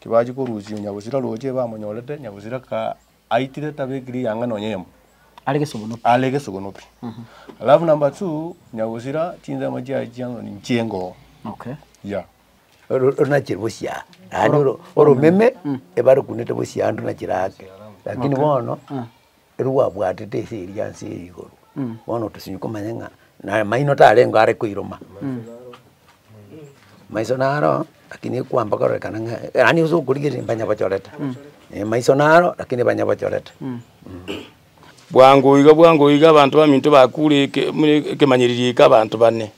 Tibachia korusia Nyagusira roche bamonyorete, Nyagusira ka aitire tabekiri eyanga nonya eyemo. Are gesogono pi. Are gesogono pi. Alafu number two, Nyagusira chinsemo chiaye chia ng'ani nchie ngoo. Okay. Yeah. Runachire bosia yaani oromeme ebarukunete bosia yaani runachire ake lakini bono. Ere gwabwatete ise eria ase eyo igoro, bono otosemi komanya ng'a na maino tarengeo are koiroma. Maiso naro lakini ekwamba kororekana ng'a yaani ase okorigereria mbanyabochorete, eh maiso naro lakini banyabochorete. Bwango iga bwango iga abanto baminto bakure eke- mure- ekemanyererio eke abanto bane.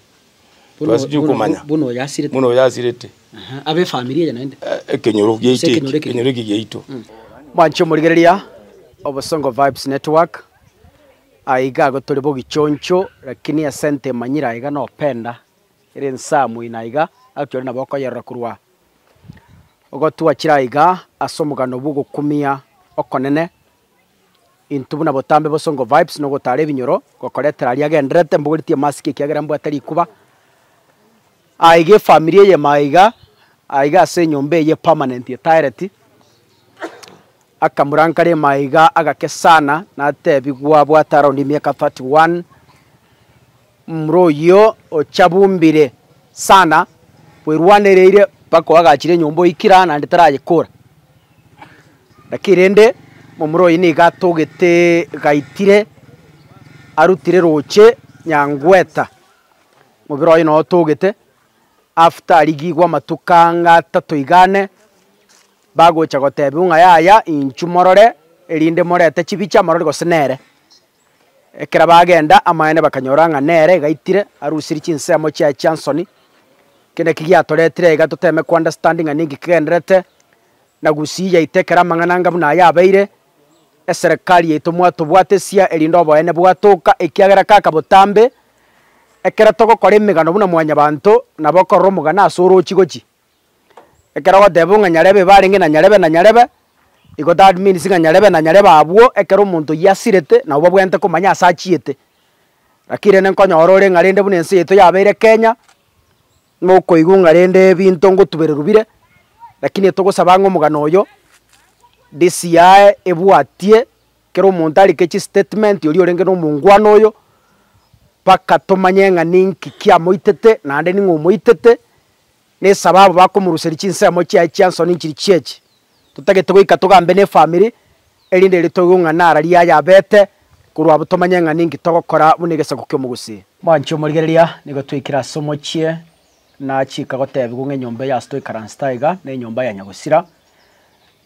Twasirie komanya. Buna oyasirete. Buna oyasirete. Aha, abe efamiri eye naende. Ekenyoro giaito eki. Ekenyoro eki giaito. Mwanche omorigereria Obosongo Vibes Network, aye iga igo tore bogichoncho, lakini ase ente emanyire aye iga na openda, ere ensamu ina iga, gaki ore nabo okoyerora korwa ogo twachire aye iga ase omogano bw'ogokumia okonene. Intwe buna botambe bosongo vibes no gotara ebinyoro ngokoretera aria agendererete mbogoretie emasiki ekiagera mbwate rikuba aah iga efamiri eye ime aiga aiga ase enyomba eye permanent etaereti akamura nkare ime aiga agakesana natebigwa abwate around emiaka thirty one. Momura oyio ochabumbire sana bwerwanereire mpaka oagachire enyomba oikira naende tarayekora. Naki rende momura oyio nigo atogete gaitire arutire roche nyangweta, mobere oye noo otogete after arigigwe amatuko ang'e atato iga ane, bagocha gotebiwa ng'a yaya inchu morore erinde morete chibicha morore gose nere. Ekero bagenda, amaene bakanyora ng'a nere gaitire arusirie chinsemo chiaye chia nsoni. Eki naki giatoretire iga toteme kounderstand ng'a ninki kigendererete, na gusii yaito ekero amang'ana anga buna aya abeire, eserekari yaito mwatobwatesia erinde oboene bwatoka ekiagera kaka botambe, ekero togokora emegano buna mwanyabanto, nabo okorora omogano ase orochi gochi. Ekero ogoteba ng'a nyarebe igo arenge na nyarebe na nyarebe, igo that means ng'a nyarebe na nyarebe abwo ekero omonto oyio asirete nabo babwenerete komanya ase achiete. Lakini rende nkonyora ore ng'a rende buna ense yaito yabeire Kenya, mokoigwa ng'a rende ebinto ngotubererwa bire, lakini togosaba ng'a omogano oyo, DCI ebwatie kera omonto arike chistatement oria orenge na omounguano oyo, mpaka tomanye ng'a ninki kiamoitete naende ning'o omoitete, Nesababu bakomoruseria chinsemo chiaye chia nsoni nchiri chiechi. Totagete goika togambe nefamiri erinde ere toigwe ng'a nara riaye abete korwa abwo tomanye ng'a ninki togokora buna egesaku ki'omogusi. Mwanchi omorigereria nigo twaikire ase omochie na chiika gotebigwa ng'a enyomba eyase toikaransete aiga nenyomba ya nyagusira,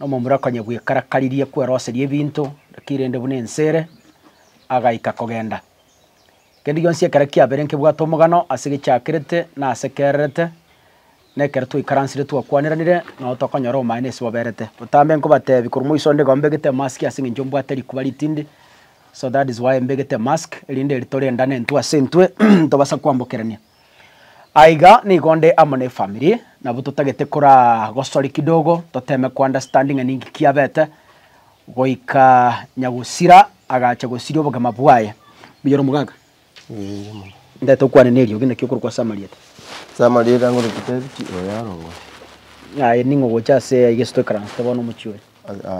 nomomura konya bwekarakaririe kweroseria ebinto, lakini rende buna ense ere, agaika kogenda. Kende gionsi ekero kiabeire nkebwate omogano ase gechakerete na ase kererete, na ekero twaikaransire twakwaniranire, nao tokonyora obomaene ase boberete. Botambe nkobateebia, korwa moiso onde iga mbegete emask ase eng'encho mbwate rikuba ritindi, so that is why mbegete emask, erinde ritore endane intwe ase intwe, ntobasa kwambokerania. Aiga nigo nde amo ne family, nabo totagete kora gosori kidogo, toteme ko understand ng'a ninki kiabete, goika nyagosira agacha gosiria obogima bwaye. Mbuya ore omogaka? Mbuya mono. Ndete okwane neriogi naki okorokwa ase amarieta? Ase amarieta ngorokwa David Oyarongoria. Aye ning'o gocha ase aiga ase toikaransete bono omochie oyo?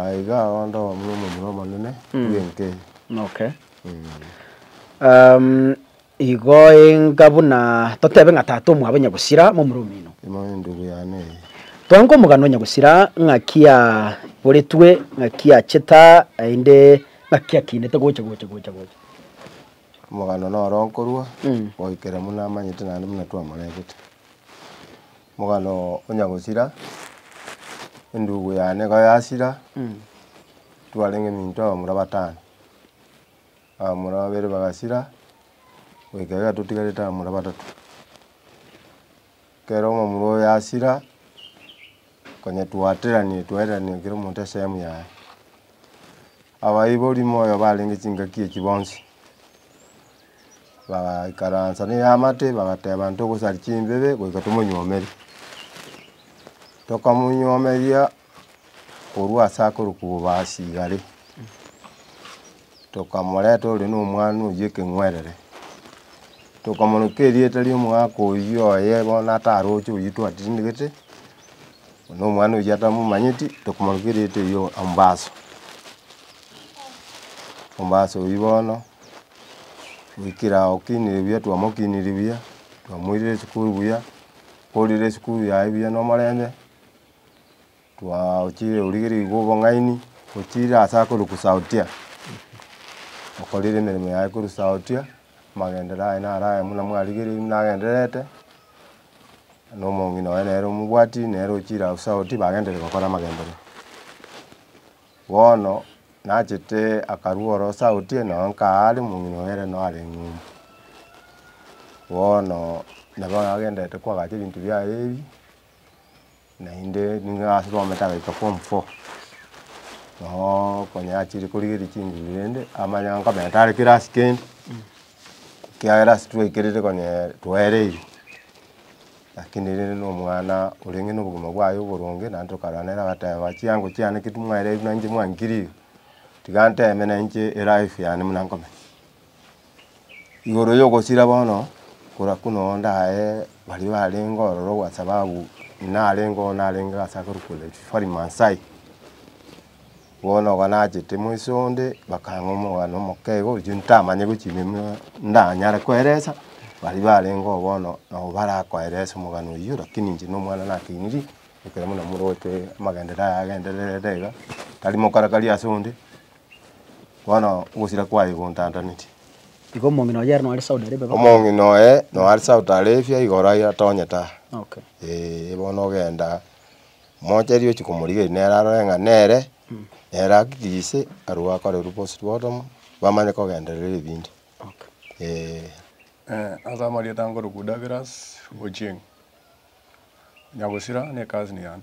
Aiga ao ande omomura omonene bw'enka eye. Okay. Igo enga buna totebe ng'a tata omwabo nyagusira momura omino. Imoe endugu yane eye. Twanke omogano nyagusira ng'aki aboretwe, ng'aki acheta, naende ng'aki akinete gocha gocha gocha gocha. Omogano noro nkorua goikera buna amanyete naende buna twamorebete. Omogano onyagusira endugu yane igo yasira twarenge minto abamura batano. Abamura babere bagasira, goika iga totigarete abamura batato. Ekero omomura oyo asira, konya twateranie twaireranie kera omonto esehemu yaye. Abaibori moyo barenge chingaki echio bonsi, bagaikaransa na eamate bagateba intwe ogosari chimbebe goika tomonyuomere. Tokamonyomeria, korwa ase akorwa kobobaasi igare, tokamoreta ore na omwana oyio ekeng'werere, tokamoroka erieta ria omogaka oyio oye bono ataroche oyio twatindegete, na omwana oyio atamomanyeti, tokomoroka erieta erio Ambaso. Ambaso oyio bono, goikera ago okinire buya twamokinire buya, twamoirire esukuru buya, akoorire esukuru yaye buya na omorembe. Twaochire origereiri bwa obong'aini, ochire ase akorwa kusaotia, okorire emeremo yaye korwa saotia, amagenderero aye naro aya buna mwarigereiri buna agendererete, na omong'ina oye nere omobwati nere ochire aye osaoti bagendererete gokora amagenderero. Bono nachete akarua ore osaotie nao nkaa are omong'ina oye ere nao are eng'umbu. Bono nabo agendererete koagacha ebinto biaye ebi. naende nigo ase twamate agaika form four, nooo konya achire korigereria chinguru rende amanyanga nkomenya tare kirasi kende, ekiagera ase twaikerire konyeee twaereire, lakini rende na omwana orenge na obogima bwaye oboronge naende tokarora nere agateba chiango chiane ki timwaereirwe nainche mwankirire, tiga nteme nainche elife yane buna nkomenya. igoro yogosira bono, kora buna oo ndaye baria barenge ororo kwa sababu narenge oo narenge gose akorokwa refari maasai, bono iga nachete moise onde, bakang'a omwana omokego oyio ntamanye gochia emenwa ndanyare koeresa, baria barenge oo bono nabo barakoeresa omogano oyio, rakini inche na omwana nateneiri, ekero buna moroche amagenderero aye agendererete iga, tari mokarakari ase onde. Bono ogosira kwaye gontantaneti. Igo omong'ina oye ere nore Saudi Arabia. Omong'ina oye nore Saudi Arabia igoro aye atonyete aa. Okay. Eeh bono ogenda mocheria ochi komorigereria nere arore ng'a nere, nere akikise arwo akorerwa postmortem bamanye kogenderera ebinto. Okay. Eeh. Ase amarieta nkorokwa Douglas Ochieng. Nyagosira nekazini yane.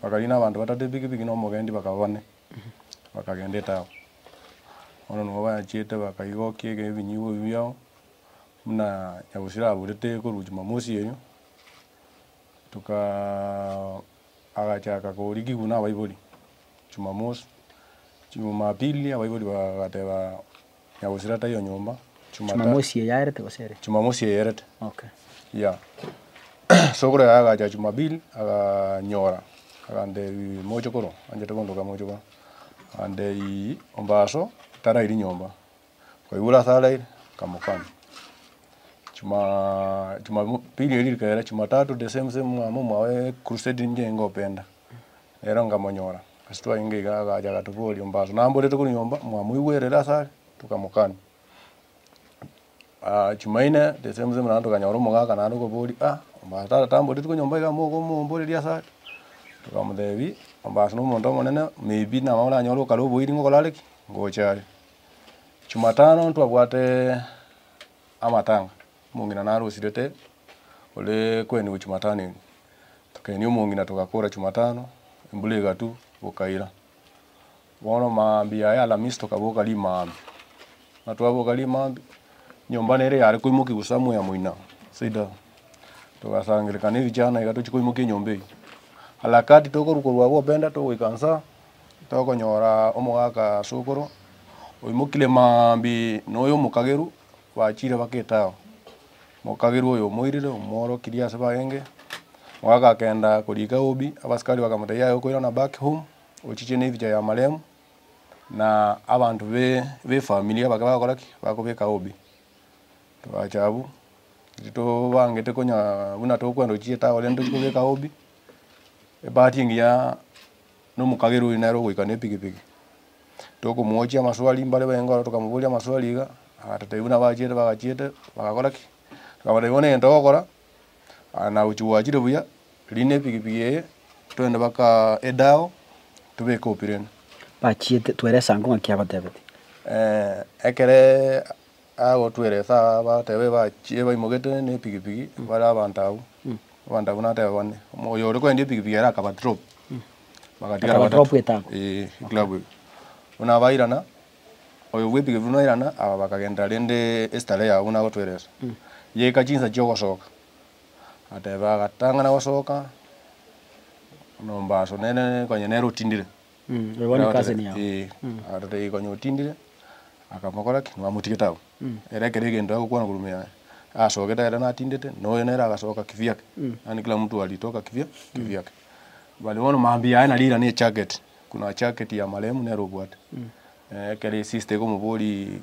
Bakariina abanto batato epikipiki na omogendi bakaba bane, bakagenda etauni. Bono nigo bachiete bakaigokia eke ebinyigwa ebi biabo, buna nyagusira aburete korwa jumamosi erio, tukaa agachaka korikigwa na abaibori jumamosi, jumapili abaibori bagateba. Ya gosira taiyo nyomba. Chumata. Chumamosi eye aerete gose ere? Chumamosi eye aerete. Okay. Yeah. Sokoro yaye agacha Jumapili aganyora agantebia moche korwa anchete kondoka moche korwa agantebia ombaso tarairi nyomba kwaigure ase araire nkamokama Jumaa Jumapili erio rikagera Jumatatu the same same mwamwa omwao crusade ninche ngopenda. Ero nkamonyora, ase twayiinga iga agacha agatoboria, Ombaso namborete korwa nyomba, mwamoigwerere ase are? Tokamokania. Chimaine, the same same naende tokanyora omogaka naende okoboria, ah, ombaso tara tamboreti korwa nyomba iga mokomomboreria ase are? Tokamotebia, ombaso nomonto omonene, may be nabo oranyore okare oboiri ngokore are ki? Ngocha are. Jumatano ntwabwate amatanga. Omong'ina narosirete ore koenigwa Chumatano ime. Tokaenia omong'ina togakora Chumatano, embura egatu bokaira. Bono maambia ya Alamisi tokaboka rimaambia. Buna twaboka rimaambia, nyomba nere yare koimokia gusa amo ya moina Saida. Togasangerekana ebichana iga tochie koimokia enyomba eyio. Harakati tokorwa korwa abwo Openda togoika nsa, tokonyora omogaka Sokoro oimokire maambia noyo omokageru. Bachire bageta ao, mokagerwa oyo omoirire, omworokirie ase bagenge, agakenda koriika Obi, abasikari bakamotebia, Yaya okoirana back home, ochiche nebicha ya maremu, na abanto befamiri abake bagokora ki? Bagobeka Obi. Togacha abwo, riria tobangete konya buna tokwenda ochiche tawe rende tochie kobeka Obi, ebahati engiya. Na omokagera oria nere ogoika nepigipigi, tokomwochia amaswali mbare baenga aro tokamoboria amaswali iga, agatotebia buna abachiete bagachiete bagakora ki, tokamotebia bono egento ogokora aya nagochia gwachire buya, rina epigipigi eye twende baka edao tobeke opira ene. Bachiete, twere esango ng'aki agotebetie. Ekere Agwo tweresa aa batebe bachie baimogete ne epigipigi bare abanto abwo. Abanto abwo natebe bane. Oyo ore koendia epigipigi ere akaba drop. Bagatigara Akaba batato. drop etano. Ee club eye. Buna abairana, oyo bwe epigipigi buna airana aba bakagenderera rende estarehe yabo buna agotweresa. Yaika chinsa chia ogosoka, ateba agatang'ana gosoka, nombaso nere konye nere otindire. Arorire igo onye otindire, akamokora ki? Nibamotugete abwo. Ere ekero egento agokwana korwa ime yaye, asogete ere natindete, na oyo nere agasoka kivio ake. Yaani kila mtu alitoka kivio kivio ake. But bono mambia yaye nari ne ejacket, kuna jacket ya marehemu nere obwate. Ekero esister ekomoboria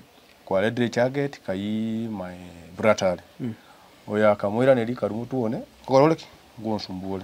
kwaretire ejacket kayii my brata are. Oyo akamoiraneria kari motwe one, nkogore ore ki? Ngonsumbuore.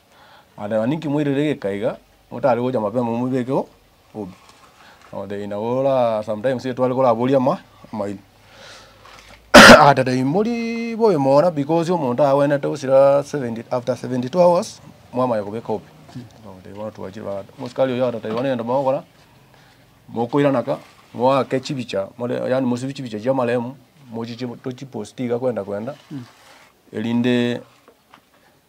Agateeba, Ninki moirire egeka iga, motare gocha mapema mobekeho obi? Agateeba, Inabo ora sometimes etware koraborie amaino. Agateeba, Timori bobe mono because omonto agwenerete gosira seventy, after seventy two hours mwamanya kobeka obi. Agateeba, Bono twachire bagato. Omosikaari oyo agateeba, Bono egento mogokora, mokoirana ka, moake chibicha, more yaani mosibie chibicha chia amarehemu, mochiche tochiposti iga kwenda kwenda, erinde.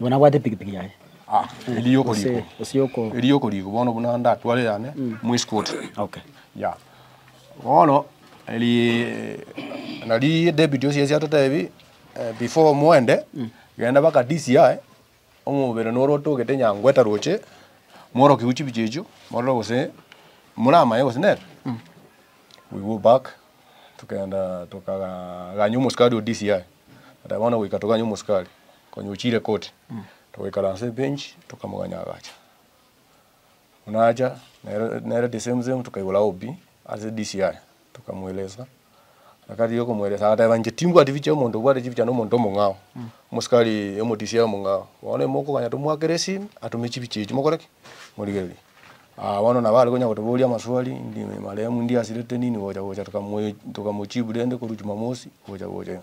Nigo nabwate epikipiki yaye. Ah, eriogo Gose- rigo. gose yoko- Eriogo rigo bono buna ndatware yane mwesikuoti. Okay. Ya. Bono eri nari David osiasi atotebi eh, before moende genda baka DCI omobere noro otogete nyangwe taroche mworokigwe chibicha echio morore gose moramaye gose nere. We go back tokagenda tokaganya omosikari o DCI. Ata bono goika toganye omosikari. Konya ochire koti, togoikara ase ebench, tokamoganya agacha. Buna acha, nere nere the same same tokaigora OB ase DCI, tokamoeleza, nakarigia okomoeleza agateba inche timbwati bichia omonto obwate chibichano omonto omong'ao, omosikari omo DCI omong'ao, bono mokoganya tomoakere esimi, atome chibichia echio mokore ki? morigererie. Aa bono nabo are konya gotoboria amaswali, ndi marehemu ndiasirete nini gocha gocha tokamoe tokamochibu rende korwa Jumamosi gocha gocha iga.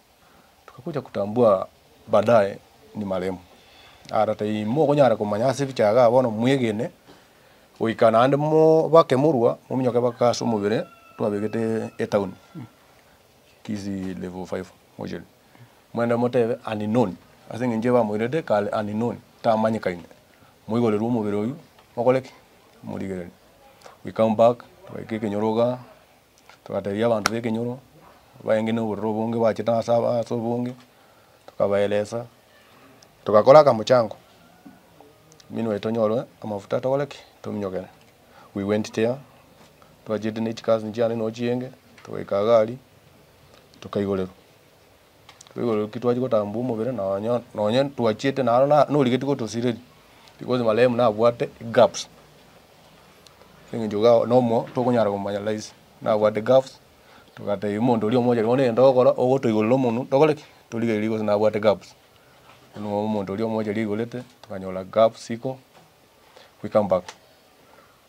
Tukakuja kutambua baadaye ni maremo. Ara timokonyara komanya ase ebicha iga bono mwegene goika naende mobake morua mominyoke mpaka ase omobere twabegete etown Kisii level five mortuary. Moende motebe unknown ase eng'encho ebamoirete kare unknown tamanyekaine. Moigorerwe omobere oyio mokore ki? Morigereri. We come back twaika ekenyoro igaa. Togateebia abanto b'ekenyoro baenge na obororo obonge bwache na ase aba ase obonge, tokabaelesa, togakora akamochango, emenwa yaito tonyore amafuta tokore ki? Tominyokere. We went there, twachete ne chikasinchia ande noo chienge, togaika agari, tokaigoreru. Igoro ki twachia gotambua omobere nonye nonye twachiete naro na norigetie gotosireria because marehemu nabwate gaps ase eng'encho iga nomo tokonyara komanya rahisi nabwate gaps togatebia omonto oria omochenu bono egento ogokora ogotoigorera omonwe tokore ki? Torigererie gose nabwate gaps bono omonto oria omocheri aigorete tokanyora gaps iko goika mpaka.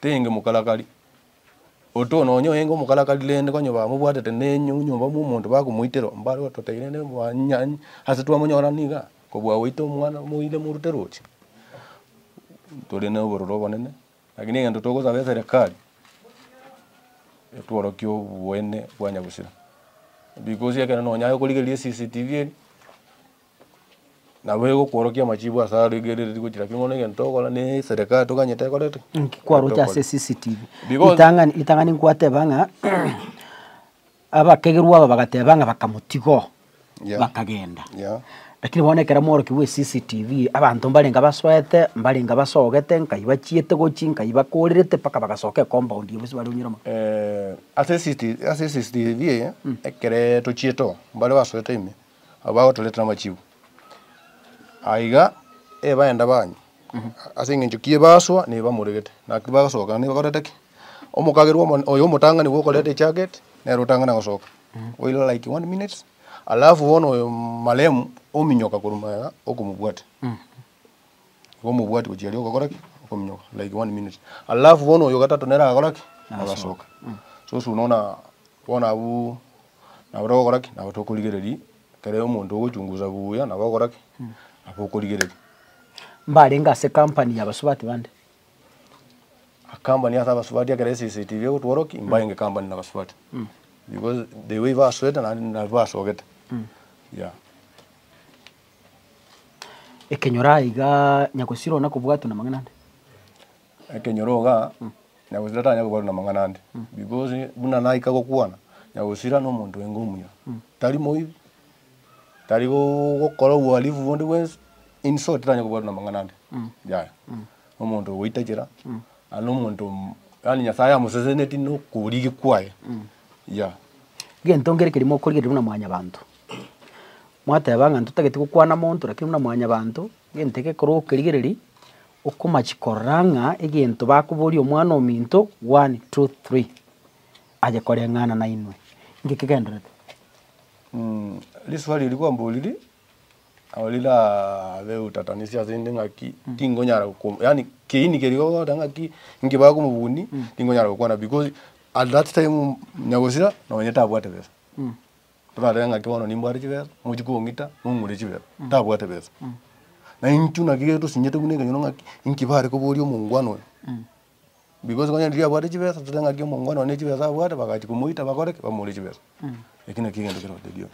tenge mokarakari, oto nonye oenge omokarakari rende konye bamobwatete ne enyomba bwa omonto bakomoitera mbare gototebia rende mwaanyanya ase twamonyora niga kobua goita omwana moire morute roche, tore na obororo obonene, lakini egento togosaba eserekari etworokie oboene bwa nyagusira, because ekero nonye aye okorigereria CCTV eria. Nabo egokworokia amachibo ase aro egereri gochia naki bono egento ogokora ne eserekari toganyete ekorete ki? Inki kwaroche ase CCTV? Because- Ritang'ani ritang'ani nkwateba ng'a abakegerwa aba bagateba ng'a bakamotiga oo Yeah. bakagenda. Yeah. Lakini bono ekero omworokia bwa eCCTV abanto mbarenge abasoete, mbarenge abasogete, nkai bachiete gochia, nkai bakorerete mpaka bagasoka ecompound eye bonsi bare onyure mo. Eh, ase CCT ase CCTV eye, ekere tochiete oo, mbare basoete ime, abagotorete namachibu. Aiga ebaenda banywa ase eng'encho ki ebasoa na ebamoregete, naki bagasoka na ebakorete ki? Omokagerwa omo oyo omotang'ani nigo okorete ejaget, nere otang'ana gosoka oira like one minute, alafu bono oyo maremu ominyoka korwa magega okomobwate, nigo omobwati gochia riria ogokora ki? Okominyoka like one minute. Alafu bono oyo ogotato nere agakora ki? Agasoka. Sosi oyo nona bono abwo. Nabo togokora ki? Nabo tokorigereria ekero omonto ogochungusa buya, nabo ogokora ki? Nabo okorigereria. Mbarenge ase company ya abasubati bande. Company ase abasubati ekero SCCTV egotworwa ki? Mbarenge company na abasubati. Because the way basoete naende nabi basogete. Yeah. Ekenyoro aiga nyagosirwa nakobwatwa namang'ana ande? Ekenyoro iga, Nyagusira tanyare kobarwa namang'ana ande, because buna naika gokwana, Nyagusira nomonto enge omuya, tari moibi, tari gokora uhalifu bonde bwensi, in short tanyare kobarwa namang'ana ande, yaya. Nomonto ogoitachera, aye nomonto yaani Nyasaye amosesenetie nokorigi kwaye, yaya. Egento nkere ekerimo okorigereria buna mwanyabanto, mwateba ng'a ntotagete gokwana monto, lakini buna mwanyabanto, egento egekorwa okerigereria, Okomachia korora ng'a egento bakoboria Omwana-o-minto, one, two, three, aye koreng'ana nainwe, inki kegenderete? Riswali eri kwamboriri nabo rirabe utatanisio ase inde ng'aki tingonyara goko yaani kiini keria ogoteba ng'aki inki bakoa omobuni tingonyara gokwana because at that time onya gosira nonye tabwate besa. Torarebe ng'a ki bono nimbwate chibesa, mochi kong'ita, mong'ure chibesa. Ntabwate besa. Na intwe naki ekero tosinyete buna ekenyoro ng'aki, inki bare koboria omongwana oyo? Because onye riria abwate chibesa, totebe ng'aki omongwana oyo ne chibesa abwate, bagachi komoita bakore ki? Bamore chibesa. Eki naki egento kere gotebi oyo.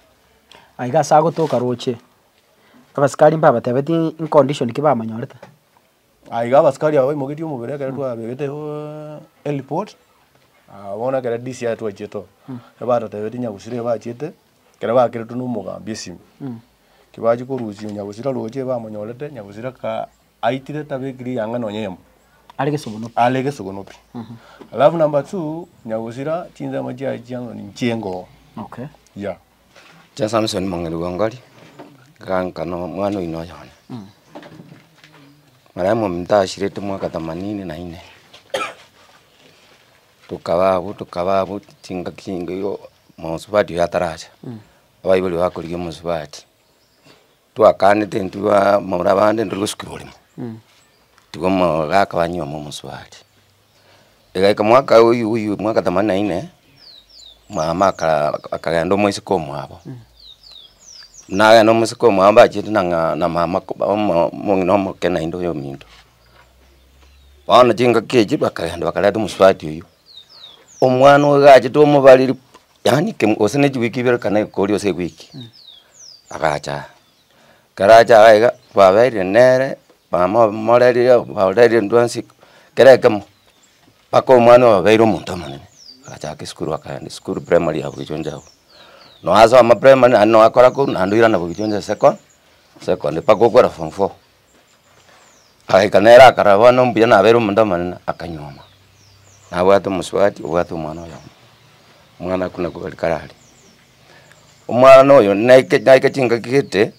Aiga ase agotoka roche, abasikari mbabatebetie incondition ki bamonyorete. Ah, iga abasikari aba baimogetie omobere ekero twabegete eh, ereport Ah, bono ekero DC aye twachete oo ebatotebete nyagusira eye bachete ekero bakeretwe na omogambi esime ki bachia korusia nyagusira roche bamonyorete nyagusira ka aitire tabekiri eyanga nonya eyemo Are gesogonoki. are gesogono pi alafu number two nyagusira chinsemo chiaye chiang'ani nchiengoo Okay. yeah Chia Samsoni mong'ina bw'engori, agaanka nomwana oino oye one. Marabi mominto ashirete mwaka themanini na ine, tokaba abwo tokaba abwo chingaki chingiya omosubati oyo ataracha, abaibori bakorigia omosubati. Twakaanete intwe bamura bande intwe togosukerwa oremo, tiga omororo akaba nyuoma omosubati. Egaika mwaka oywo oywo mwaka themanini na ine, mama aka akagenda omoiseke omwabo, nagenda omoiseke omwabo mbachete na ng'a na mama ko omo omong'ina omoke naende oyo ominto. Bono chingaki echio bakagenda bakareta omosubati oywo, omwana oyo gachete omobareri pu. Yaani ke gose ne chiwiki ibere kana ekori gose ewiki, agacha aa, ekero acha aa iga, kwabeire nere, mama moreria oo bareria ndwasi kera ekemo, mpaka omwana oyo abeire omonto omonene, agachaka esukuru akaenda esukuru primary ya bwechonjo abwo, noasoma primary naende noakora korwa naende oirana bwechonjo secon secondary mpaka okora form four, Agaika nere akarora bono mbuya nabeire omonto omonene, akanyuoma, nabwate omosubati obwate omwana oyomo, omwana okwo nako gari kare are. Omwana oyo naika naika chingaki gete,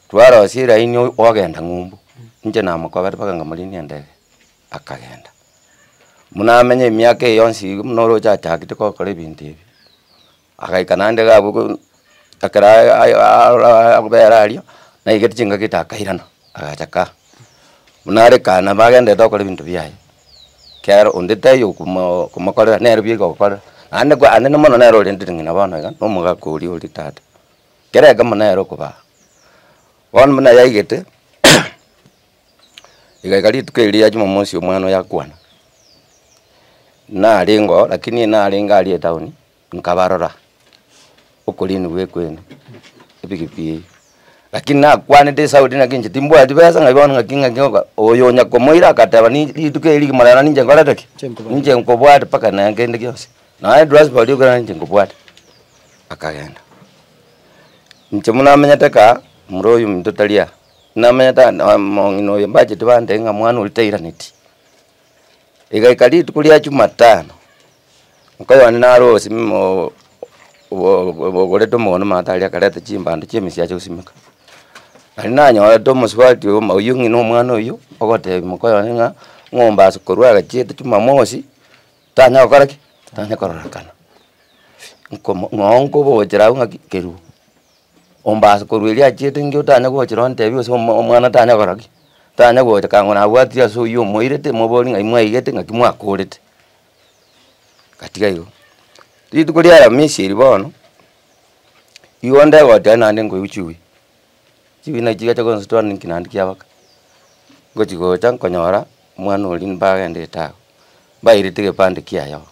twarosia eraini o- ogenda ng'umbu, inche namokobera mpaka ng'a morinie endege, akagenda. Buna amenye emiaka eye yonsi iga buna oroche achagete gokora ebinto ebi. Agaika naende iga abwo korwa ekero aarora akoba ere aria, naigete chingaki ita akairana, agacha kaa. Buna are kaa nabo agenderete gokora ebinto biaye, ekiagera onde taiyo okomo okomokorera, nere bieka ogokorera, naende kwa anene mono nere orendete ng'ina bono iga, na omogaka oria ore tata, kera egemo nere okobaa. Bono buna yaigete, igaika rituko erio ria jumamosi omwana oyo akwana, narenge oo lakini narenge aria etown. nkabarora okorinigwa gwekwena ebigipi eyio. Lakini nakwanete esaudi naki inche timbwati besa ng'ai bono ng'aki ng'aki oka oyo onya komoira agateba ni rituko eri rigima rero ninche nkorete ki? Chinkobwate. Ninche nkobwate mpaka naye kende gionsi. Naye edwasbari ekero narinche nkobwate, akagenda. Inche buna amenyete kaa, mura oyo ominto tari aa, namenyete ande aa mong'ina oyo mbacheti bandee ng'a mwana oria tairaneti, Rigaika rituko ria Jumatano, oka Yohana nare ogosimima oo- oo- oo- obogoretwe omogondo matari akareta chimbando chi'emesiacha gosimeka. Nari nanyorete omosubati oyo buna oyio ng'ina omwana oyio, ogotebi moka Yohana ng'a ng'ombe ase korwa agachiete Jumamosi, tanya gokora ki? tanya kororekana, nkomo ng'o nkobogochera agwo ng'aki keruo. Omba ase korwa erio achiete inki otanye gocha nonye otebie gose omwa omwana tanye kogora ki, tanye gocha kang'o nabwatire ase oyio omoirete mobori ng'ai mwaigete ng'aki mwakorete, gatiga igo. Rituko ria aramisi eri bono, igo onde goteba naende nkoigwa chiwi, chiwi nachi chigacha gonsotua nonye nki naende kia baka, ngochi gocha nkonyora omwana oria mbagendete agwo, mbairete egepande kiaye oo.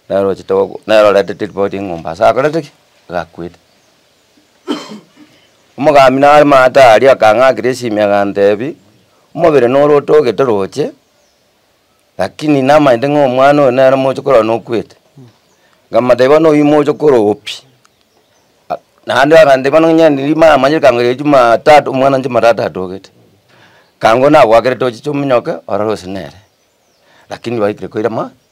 Nere ochete goku nere oretete ripoti ng'a ombaso akorete ki? Gakwete. Omogambi nare maate aria akang'akera esimi agantebi, omobere nore otogete roche, lakini namanyete ng'a omwana oyo nere moche korora nokwete, nkamotebi bono oyio moche korogwa pi, ah naende agantebi bono onye nindi maramanyire ekango ria jumatatu omwana oye jumatatu atogete, ekango nagoakerete ochiche ominyoke orore gose nere, lakini baikire koira ma.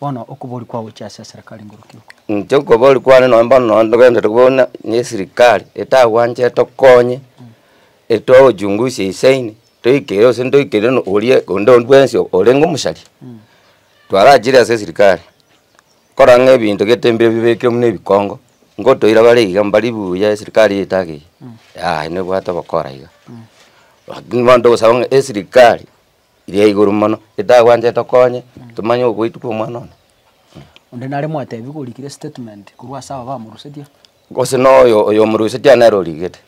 Bono okobori kwao gochia ase eserekari ngoroki oko? Inche okobori kwane nonye bono nonye togenderete kobua buna ne esirikari etagwanchete tokonye, etogochungusia isaini, toikere gose ntoikere no oria onde o bwensi orenge omochari, twarachire ase esirikari, korora ng'a ebinto gete mbibe bibekire buna ebikongo, ngotoira bare iga mbari buya esirikari eye etagete iga, yaya nebwate obokora iga, lakini bono togosaba ng'a esirikari iri ya igoro mono, etagwanchete okonye tomanye ogoitwa kwa omwana one. Onde nare mwatebi gorikire statement korwa ase aba bamorusetie. Gose na oyo oyo omorusetie aye nere origete,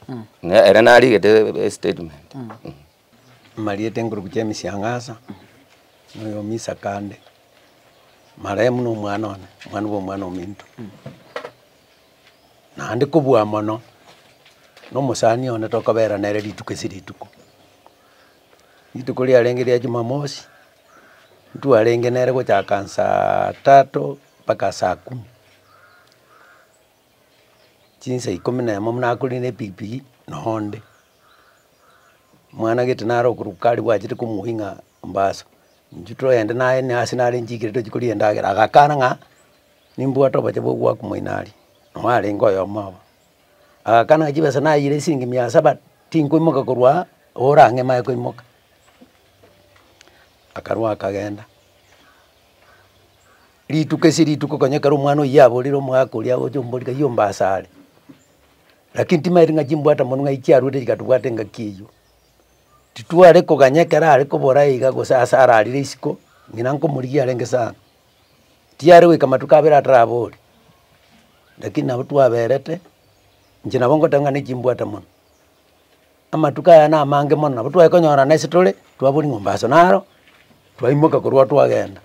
ne ere narigete estatement. Marieta enkurubu chia emisiang'asa, na oyo omisa kande, marehemu na omwana one, omwana bwa omwana ominto. Naende kobua mono, na omosani one tokobera nere rituko ase rituko. Rituko riarenge ria Jumamosi, ntwarenge nere gochaka saa taato mpaka saa kumi, chinsa ikomi na emo buna nakorire na epikipiki nonya onde. Mwana gete nare okoruka aria bwachete komoa ng'a mombasa, intwe togende naye na ase nare nchiikire tochie koria endagera, agakana ng'a nimbwate obobe bwa goaka moino aria, nonya arenge oyomo obo. Agakana chibesa nayire chisiringi mia saba, tinkoimoka korwa aa, ore ang'e mae koimoka. Akarua akagenda, rituko ase rituko konya ekero omwana oyio yaborire omogaka oria agocha omoboria kaiya ombaase are, lakini timaeti ng'a chimbwata monwe ng'ai chiaruete chigatobwata engaki eywo. Titware koganya ekero arekobora iga gose ase ararire isiko, ng'ina nkomorigia arenge sana. Tiyare goika matuko abere atarabori, lakini nabo twaberete, inche nabo ngoteba ng'a nechimbwate mono. Amatuko aya na amange mono nabo tware konyorana ase tore, twaboria mombasa naro, twaimoka korwa oo twagenda.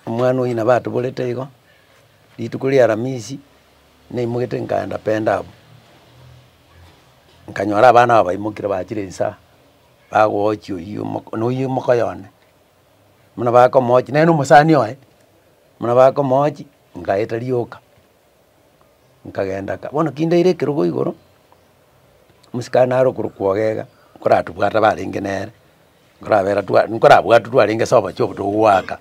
Omwana oyio nabo atoborete igo, rituko ria aramisi, naimogete nkaenda penda abwo, nkanyora abana aba baimokire bachire insaa, bagochi oyio omoko na oyio omoka oyone. buna bakomooch nere na omosani oye, buna bakomooch ngaeta rioka, nkagenda ka bono ki ndaire ekerogo igoro, omosikani are okorokwa Ogega, nkoratobwate abarenge nere, nkorabera twa nkorabwate twarenge ase obochie oboto goaka,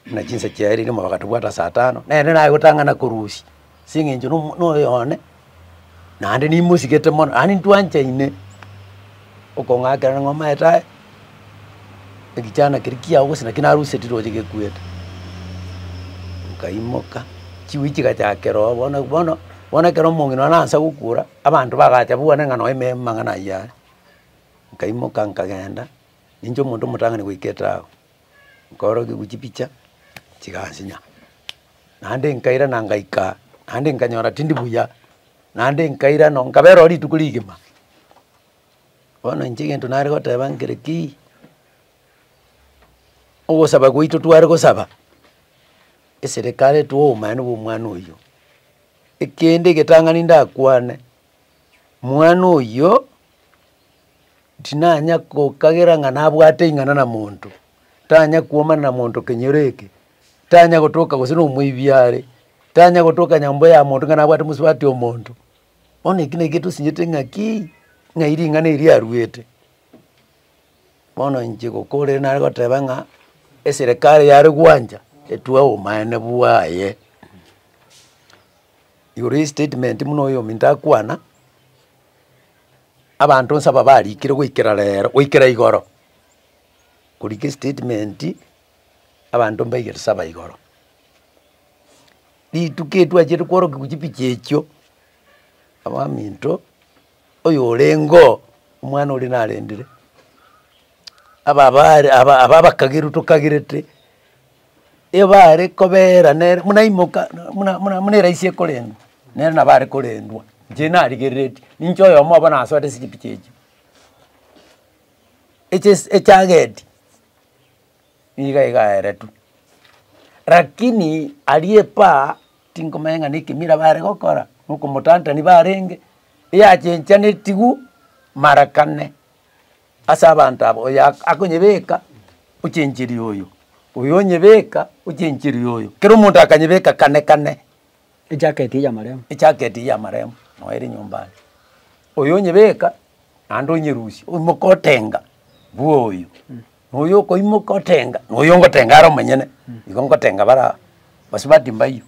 buna chinsa chiaye riria bagatobwate ase atano, nere naye gotang'ana korusia. ase eng'encho nomo noyo one, naende nimosigete mono, naende ntwanchaine okong'akerana ng'a omaete aye, egechaana keria kiao gose naki naruseti roche gekuete. Nkaimoka, chigui chigachakera oo bono bono, bono ekero omong'ina one nansa gokura, abanto bagacha babwane ng'a noe me mang'ana ayio are. Nkaimoka nkagenda, ninche omonto omotang'ani goika etago. nkorokigwa chipicha chigansinya. Naende nkairana ngaika, naende nkanyora tindi buya, naende nkairana nkabera oo rituko rigima. Bono inche egento nare goteba nkere ki, ogosaba gwaito tware gosaba, eserekari etwo obomani bwa omwana oyio. Ekende egetang'ani ndakwane, mwana oyio. Tinanya gokagera ng'a nabwate ing'ana na monto, tanya kwomana na monto kenyoro eke, tanya gotoka gose nomoibi are, tanya gotoka nyomba ya monto ng'a nabwate mosubati o monto. Bono eki naki getosinyete ng'a ki, ng'ai ring'ana eri aruete. Bono inche gokora ere nagoteba ng'a eserekari yare gwancha etwe obomaene bwaye, igoro ye statement buna oyo ominto akwana. Abanto onsi aba barikire goikera rero, goikera igoro, korika estatement abanto mbaigere saba igoro. Rituko eri twachire kworokia gochia pichi echio, abaminto oyo orengo omwana oria narendire, aba abare aba abakagerwa tokagerete. ebare kobera nere buna imoka buna buna buna eraisi ekorendwa nere nabo are korendwa inche narigereretie ninche oyomo obo nasoete chipichi echio echesi echageti niga iga aeretwe lakini aria epaa tinkomanya ng'a nekemira bare gokora na okomotantani barenge eyachenchanetigwe mara kane. Ase abanto aba, oyo akonyebeka ochenchiri oyo, oyo onyebeka ochenchiri oyo, kera omonto akanyebeka kane kane. Ejaketi eye y'amaremo. Ejaketi eye y'amaremo, noe ere nyomba ande. Oyo onyebeka naende onyerusia, oimoka otenga, bua oyo. Noyo okoimoka otenga, noyo ngotenga are omonyene, igo ngotenga bare aba, gose bati mbaiyo.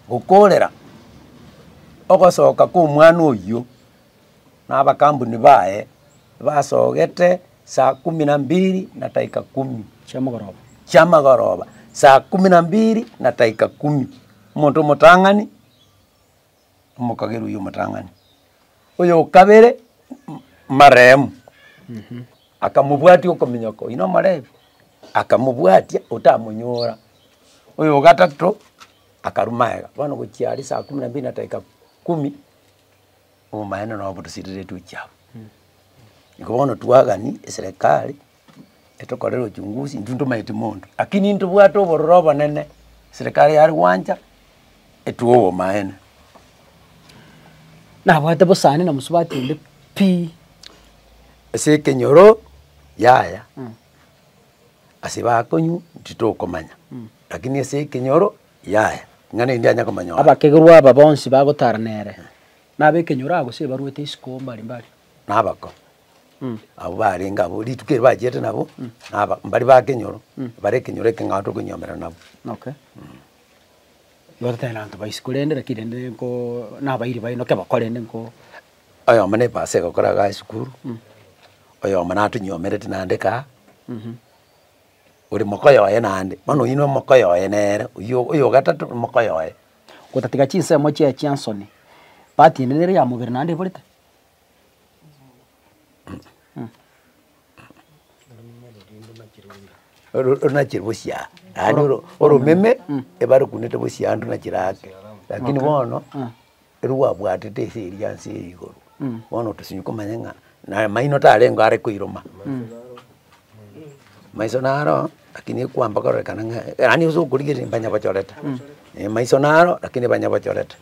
Gokoorera ogosoka kw'omwana oyio. na abakambuni baye basogete saa kumi na mbiri na dakika kumi chiamagoroba chiamagoroba saa kumi na mbiri na dakika kumi omonto omotang'ani omokagerwa oywo omotang'ani oyo okabere marehemu akamobwatia okominyoka oywo na omorebi akamobwatia otamonyora oyo ogatato akarwa magega bono gochia aria saa kumi na mbiri na dakika kumi. obomaene na obodusiriretu echiabo. Igo bono twagani eserekari etokorere uchunguzi intwe ntomaeti monto, lakini intobwate obororo obonene serekari yare gwancha etwo obomaene. Nabwate bosani na mosubati onde pi. Ase ekenyoro yaya ase bakonywa titokomanya lakini ase ekenyoro. yaye, ng'a nendi anya komonyora. Abakegerwa aba bonsi bagotara nere, nab'ekenyoro aa gose baruete isiko mbari mbari. Na abakong'u abwo barenge abwo rituko eri bachiete nabo, na aba mbari b'akenyoro, bare ekenyoro ekeng'ao tokoinyomerana nabo. Okay. Igo totari nabanto ba isiko rende, lakini rende ninko nabairi baye naki abakore rende nko. Oyomo ne epasee egokora iga esukuru, oyomo natonyomerete nande kaa. ore mokoye oye naende, bono oyio nomokoye oye nere, oyio oyo o gatato nomokoye oye. Gotatiga chinsemo chiaye chia nsoni, part ende nere ya mobere naende eborete? Oro- orunachire bosio yaani oro- oromeme ebare okunete bosio yaani runachire ake, lakini bono. Erio gwabwatete ase eria ense eye igoro, bono otosemi komanya ng'a na amaino tarengeo are koiroma. Maiso naro lakini ekwamba kororekana ng'a yaani ase okorigereria mbanyabochorete, eh maiso naro lakini banyabochorete.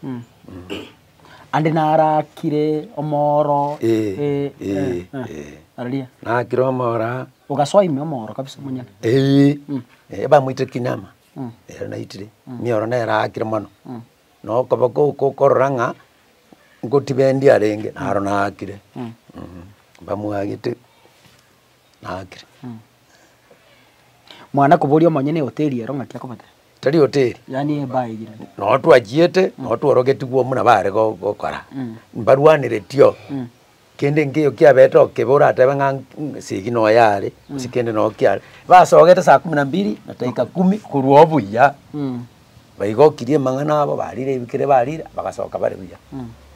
Ande naro akire omooro Eh, eh, eh, eh. aria. Nakire omooro aa. Ogasoa ime omooro kabisa monyene. Eeh, ebamoitire kinyaama, ere naitire, nioro nere aakire mono. Na okoba koko okorora ng'a ngotiba endi arenge, naro naakire. Mbamwagete, naakire. Mwana koboria omonyene ehoteri ero ng'aki akobate. Tari hoteri. Yaani ebar eyire. Noo twachiete, noo tworogetigwe buna bare go- gokora. Mbarwaneretie oo. Kende nkeiyo kiabete okebe oratebe ng'a Segi noye are, gose kende nao kiare. Basogete saa kumi na mbili na taika kumi korwa obuya, baigokirie emang'ana abo, barire ebikere barire, bagasoka bare buya.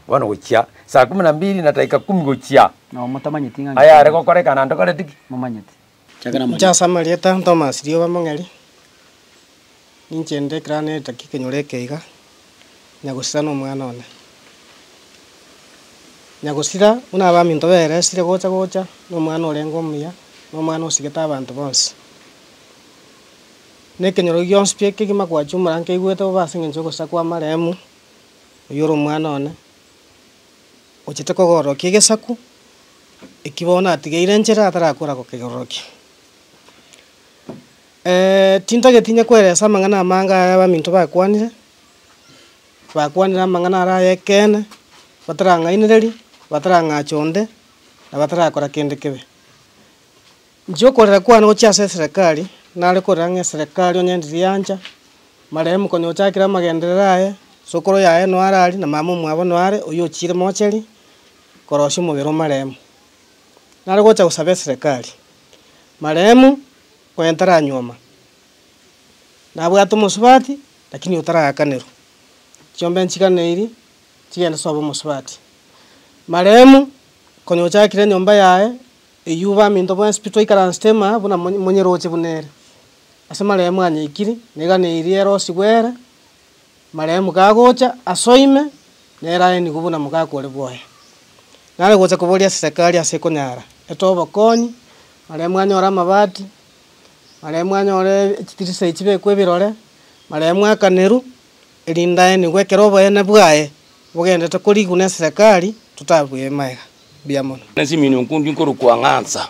Bono gochia saa kumi na mbili na taika kumi gochia, Nao motamanyeti ng'a ayare gokorekana ntokoreti ki? momanyeti. Inche amarieta Thomas Rioba Mong'eri, ninche nde ekero ane eritaki ekenyoro eke iga, Nyagosira na omwana one. Nyagosira buna abaminto bere esire gocha gocha na omwana orenge omuya, na omwana osigete abanto bonsi. Na ekenyoro gionsi pi ekegima gwachumora nkeigwete bobe ase eng'encho yogosira kw'amaremu, oyio ore omwana one. ochete kogororokia egesaku eki bono natigeire nchera atarakora gokegororokia. tintageti inye koeresa amang'ana amange aya abaminto bakwanire, bakwanire amang'ana are ay'ekeene, batarang'ainereria, batarang'acha onde, na batarakora kende kebe. Nchia okorera kwane gochia ase eserekari, nare korera ng'a eserekari onye ndirie ancha, marehemu konya ochakire amagenderero aye, isokoro yaye noare aria, na mama omwabo noare, oyio ochiire mocheri, korosia omobere o marehemu. Nare gocha gosaba eserekari, marehemu onye ntaranyuoma, nabwate omosubati, lakini otaragakerwa, chiombe nchiganeiri, nchigende sobe omosubati. Marehemu, konya ochakire enyomba yaye, Eyio baminto bw'enspi twaikaransete ime buna monyeroche buna ere. Ase maremo anyaikiri, neganeirie ere osigwe ere, maremo kagocha aso ime, nere aye nigo buna mogaka ore bwoye. Nare gocha koboria serekari ase ekonyara etoe obokonyi, maremo anyore amabati, maremo anyore chitirisa echi chibekwe ebirore, maremo akaneru, Rindaenigwe ekero oboyene bwaye bogendete korigwa neserekari totabue ebimaega bia mono. Nesimino nkundi nkorokwa Ng'ansa,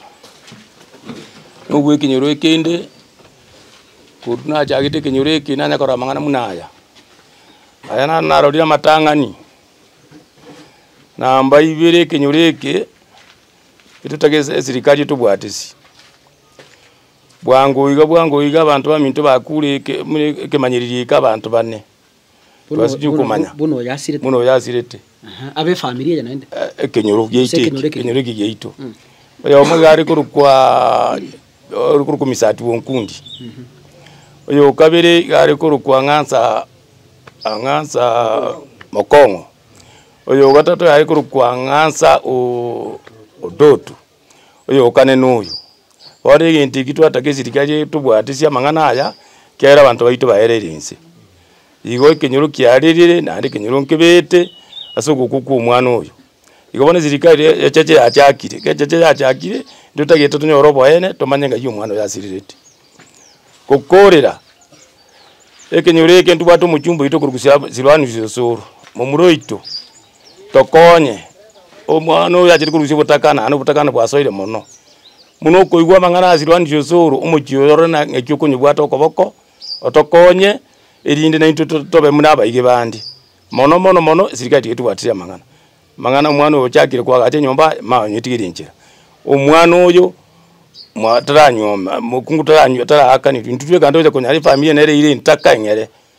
nobwekenyoro ekende, korwa nachagete ekenyoro eke nanya korora amang'ana buna aya. Aya naro narorire amatang'ani, namba ibere ekenyoro eke, etotagete esirikari etobwatisi. Bwango iga, bwango iga, abanto baminto bakure eke, buna ekemanyererio eke abanto bane Buna- tibasibie buna- okomanya buna oyasirete. buna oyasirete Aha, abe efamiri eye naende. Eh, ekenyoro giaito Ase ekenyoro eki eke. ekenyoro eki giaito oyomo iga are korokwa ore korokwa misati wonkundi oyo okabere iga are korokwa ng'ansa ng'ansa mokong'o oyo ogatato iga are korokwa ng'ansa o- odoto oyokane noyo. Bono egento ekio twataka eserikari etobwate ase amang'ana aya, kera abanto baito baerire inse. Igo ekenyoro kiarerire naende ekenyoro nkebete ase ogokwa kwa omwana oyo. Igo bono eserikari e- echeche yachakire, eke echeche yachakire, ndotagete tonyore oboene, tomanye ng'ai omwana oyo asirerete. Gokorera, ekenyoro eke ntobwate omochumba oito korwa Siloanus Osoro, momura oito. Tokonye omwana oyo achire korusia obotakana naende obotakana bwasoire mono, buna okoigwa amang'ana ase erwanderia osoro omochie oyo rora na ng'aki okonyebwate okoboko, otokonye erinde naintwe to- tobe buna abaige bande, mono mono mono esirikari tiga etobwatirie amang'ana, amang'ana omwana oyo ochakire koagacha enyomba aye mama onyetigere enchera, omwana oyo mwa taranyuoma mokungu taranywo taraakaniri intwe tweka ntoche konyara efamiri eye nere eire entaka eng'ere.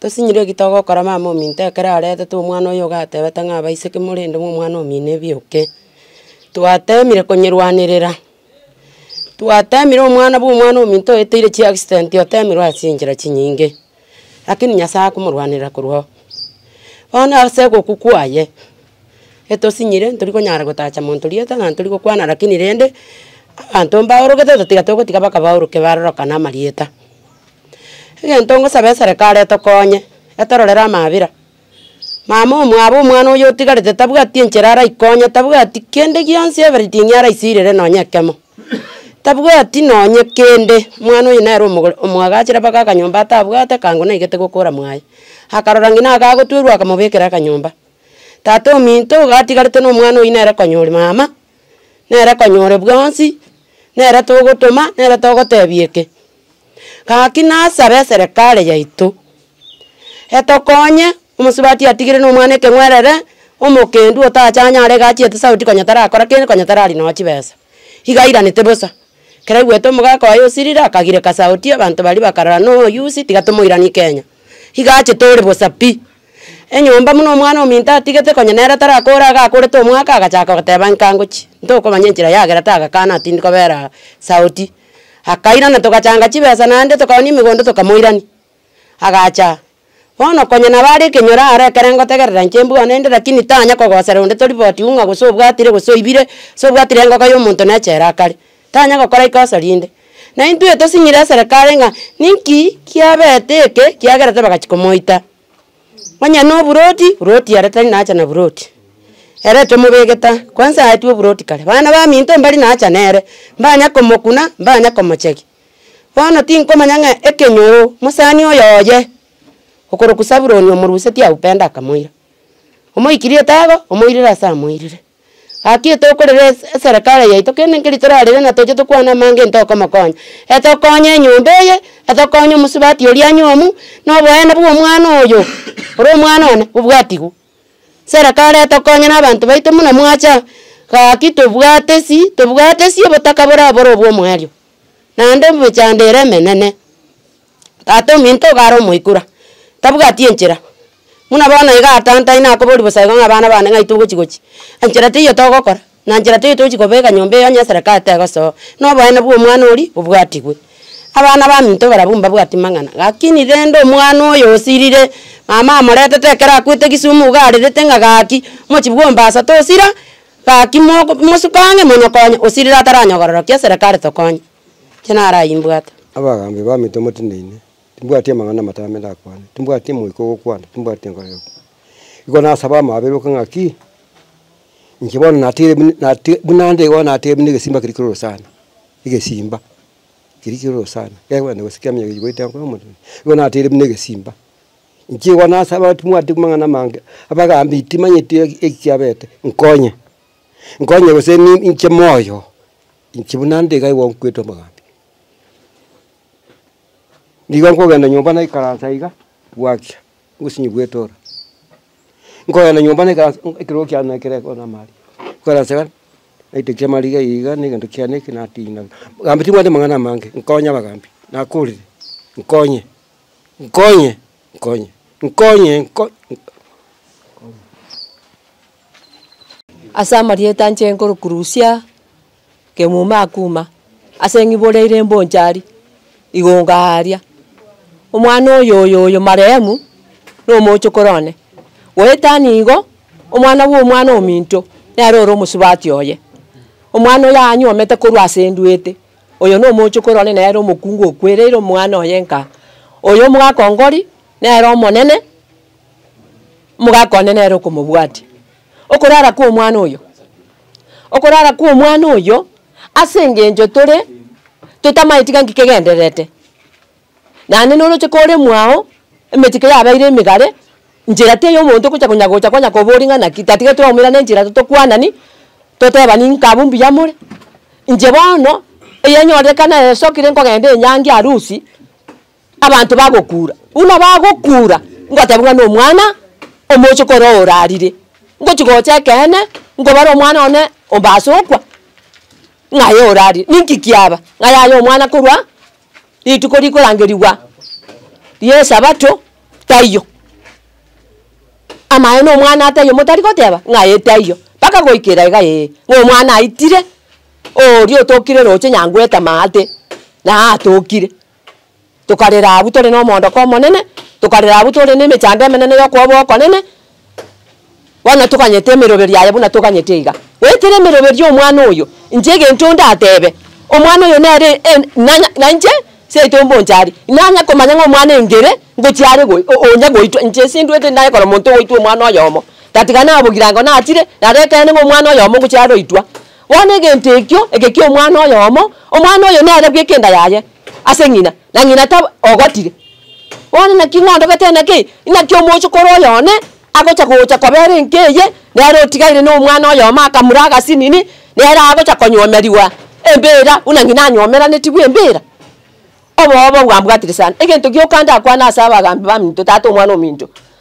Tosinyirwe ki togokora mama ominto ekero aretete omwana oyo iga atebete ng'a abaiseke morende ng'a omwana omino ebioke. Twatemire konyerwanerera, twatemire omwana bwa omwana ominto oeteire chi accident otemirwe ase enchera chinyinge, lakini Nyasaye akomorwanerera korwa oo. Bono ase egokwa kwaye, etosinyire ntori konyara gotacha monto rieta na ntori gokwana lakini rende, abanto mbaorogete totiga togotiga mpaka baoroke barorokane amarieta. Egento ngosabe eserekari etokonye, etororere amaabera, mama omwabo omwana oyo otigarete tabwati enchera araikonye, tabwati kende gionsi everything araisirere nonye ekemo, tabwati nonye kende, omwana oyo nere omogor omoagachera mpaka akanyomba atabwate ekango naigete gokora mwaye, akarora ng'ina iga agotwerwa akamobekera akanyomba. Tata ominto iga atigarete na omwana oyio nere konyora mama, nere konyore bwonsi, nere togotoma, nere togotebia eke. Gaki nasabe eserekari yaito, etokonye, omosubati atigire na omwana ekeng'werere, omokendu otachanyare iga achiete sauti konya tarakora kende konya tarari nonya chibesa. Iga airanete bosa, ekero aigwete omogaka oye osirire akagireka sauti abanto baria bakarora na oyusi tiga tomoirani kenya. Iga achete ore bosa pi. Enyomba buna omwana ominto atigete konya nere tarakore iga akorete omwaka agachaka goteba nka ngochie, ntokomanya enchera yagera tagakana tindi kobera sauti. Akairana togachanga chibesa naende tokagwa nemegondo tokamoirania. Agacha, bono konya nabo are ekenyoro aro ekere ngotegerera inche mbwane inde lakini tanya kogosera onde toripoti ung'a gose obwatire gose oibire, gose obwatire engoka ya omonto na echela akare. Tanya gokora ikosa rinde. Na intwe tosing'ire eserekare ng'a ninki kiabete eke kiagera tibagachi komoita. Onye noburoti, buroti ere tari nacha na buroti, ere tomobegeta, kwansa aetwe oburoti kare. Bana baminto mbari nacha nere, mbanya komokuna, mbanya komochegia. Bono tinkomanya ng'a ekenyoro mosani oyo oye, okorokwa Sabuloni omorusetie aupenda akamoira. Omoikiri etago, omoirire ase amoirire. Gaki etokorera ese eserekare yaito kende nkeri torarere na toche tokwane amanga e ntokomokonya. Etokonye enyomba eye, etokonye omosubati oria anyomu, na oboene bwa omwana oyo ore omwana one bobwatigwe. Serekare etokonye na abanto baito buna mwacha gaki tobwate si tobwate si obotaka bore aboro obwo omoerio. Naende emechando ere emenene. Tata ominto iga are omoikura, tabwati enchera, buna bono iga atantaine akoboria bosaiko ng'a abana bane ng'ai togochi gochi, enchera teiyo togokora, na enchera teiyo tochi kobeka nyomba eyi onye eserekari tegosoa, na oboene bwa omwana oria bobwatigwe. Abana baminto barabwo mbabwati mang'ana, lakini rende omwana oyo osirire, mama amoretete ekero akwete kisumu iga arerete ng'a gaki, mochibwa ombasa tosira, gaki moko mosuke ang'e monokonye, osirire ataranyogororokia eserekari tokonye. inche narayimbwate. Abagaambi baminto motineine, timbwati amang'ana amatame ndakwane, timbwati omoika ogokwana, timbwati enkoro egokwana. Igo nasaba amaberoke ng'a ki, inche bono natiire buna nati buna ande igo natiire buna egesimba keria keroro sana, egesimba keria keroro sana, gekogenda gose kiaminyoka keria kigoita enkoro y'omonene, igo natiire buna egesimba. Inche igo nasaba timbwati amang'ana amange, abagaambi timanyeti eki ekiabete, nkonye, nkonye gose ni inche moyo. Inche buna nde iga igo nkwete amagambi. Nigo nkogenda nyomba naikaransa iga, gwakia, obosinyi bwetora. Nkogenda nyomba naikaransa hu ekero kiane na ekero ekero na amaria. Nkaransa iga, naiteki amariga eye iga na egento kiane eke natina. Gambi timanyete amang'ana amange, nkonye abagambi, nakorire, nkonye, nkonye, nkonye, nkonye, nko. Ase amarieta anche nkorukurusia kemuma akuma, ase ng'ibori aire mboncha aria, igongo aaria. Omwana oyo oyo oyo marehemu, na omochokoro one, goetania igo, omwana bwa omwana ominto, nere ore omosubati oye. Omwana oyo aanyuomete korwa ase enduete, oyo na omochokoro one nere omokungu okwereire omwana oye nka. Oyo omogaka o Ngori, nere omonene. Omogaka one nere okomobwatia. Okorara kw'omwana oyo, okorara kw'omwana oyo ase engencho tore totamaeti tiga nki kegendererete. Naende noroche kore mwago, emechiko yabeire emegare, nchera teiyo omonto ogocha konya gocha konya koboria ng'a naki tatigetwe omoirane nchera totokwanani, totebani nka abwo mbuya more. Inche bono, egenyorekana esokire nkogenda enyangi arusi. Abanto bagokuura, buna bagokuura, ngotebi ng'a nomwana omochie korwa orarire, ngochi gocha ekeene, nkobare omwana one omba ase okwa, ng'aye orarire. Ninki kiaba? Ng'a yaya omwana korwa rituko rikorangerigwa ri'esabato taiyo. Amaye nomwana taiyo motari goteba ng'aye taiyo, mpaka goika edaika eye ng'a omwana aitire, oria otokire roche nyangoeta maate, naye atokire. Tokarera abwo tore nomoondoko omonene, tokarera abwo tore nemechando emenene yokoba okonene, bono toganyete emeroberio aye buna toganyete iga. Goetera emeroberio y'omwana oyo, inche egento ndatebe, omwana oyo nere en nanya na inche seito mbonchari, nanya komanya ng'a omwana engere ngochia are goi o- onya goitwa, inche sindwete naye kora omonto ogoitwa omwana oyomo, gatiga nabogirango natire, naro ekeene ng'a omwana oyomo ngochia are oitwa. Bono egento ekio eke ki'omwana oyomo, omwana oyo nere bweka enda yaye ase ng'ina, na ng'ina taba ogotire. Bono naki ng'ondogete enda kei? Inaki omochokoro oyo one agocha gocha kobera enka eye nere otigaire nomwana oyomo akamura agasinini, nere agocha konyomerigwa embeera buna ng'ina anyomeranetiwe embeera? Obobe obwambwatire sana! Egento gioka ndakwane ase abagaambi baminto, tata omwana ominto.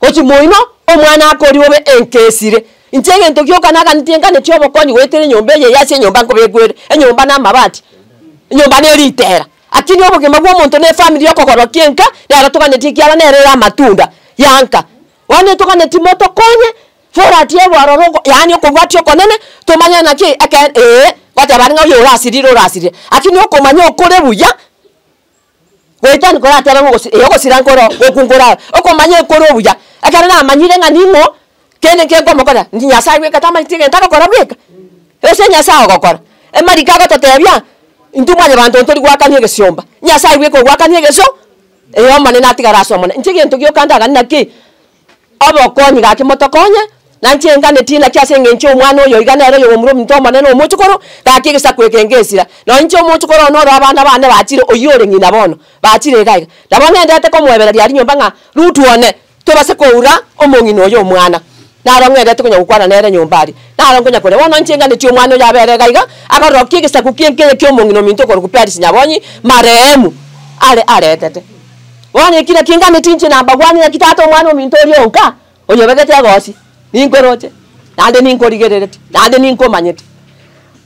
Gochi moino, omwana akoria obe enka esire. Inche egento gioka naganeti nkaneti obokonyi goetera enyomba eye yase enyomba nkobekwere, enyomba na amabati, enyomba ne ritera. Akini obogima bwa omonto ne efamiri yokogorokia enka nero toganeti ekiara nero ere amatunda ya nka. Bono toganeti motokonye forati ebe ororo oko yaani okobwatia okonene tomanye naki eke ee, goteba aria ng'a oyo orasirire orasirire. Akini okomanya okore buya. Goetania koratebe ng'a ogosi- eh, ogosira nkoro goku nkorao, okomanya ekoro obuya, ekero namanyire ng'a ning'o kende eke nkomokorera, inche Nyasae bweka tamanyeti egento agokora bweka, gose Nyasae ogokora. Emariko agototebia, intwe mwanyabanto ntori goakania egesiomba, Nyasae bweka ogoakania egesio, eh, Omonene atigare ase Omonene. Inche egento gioka ndagani naki, Obokonyi gake motokonye, na inche nganetie naki ase engencho y'omwana oyo iga nere oyogomura ominto omonene omochokoro, gaki egesaku eke ngesira. Na inche omochokoro one ore abana bane bachire, oyio ore ng'ina bono, bachire iga iga. Nabo ng'endete komoebereria rinyomba ng'a, Rutu one, tobase koura omong'ina oyo omwana. Naro ng'endete konya gokwana nere nyomba aria. Naro nkonya koria. Bono inche nganetie omwana oyo abe ere iga iga, akorora ki egesaku ki'enkeye ki'omong'ina ominto okorugu Perisi Nyabonyi, marehemu, are aretete. Bono ekina kingane chinche na mbagwani, naki Tata Omwana-ominto oria onka, oyobegete egoosi, ninkweroche, naende ninkorigerereti, naende ninkomanyeti.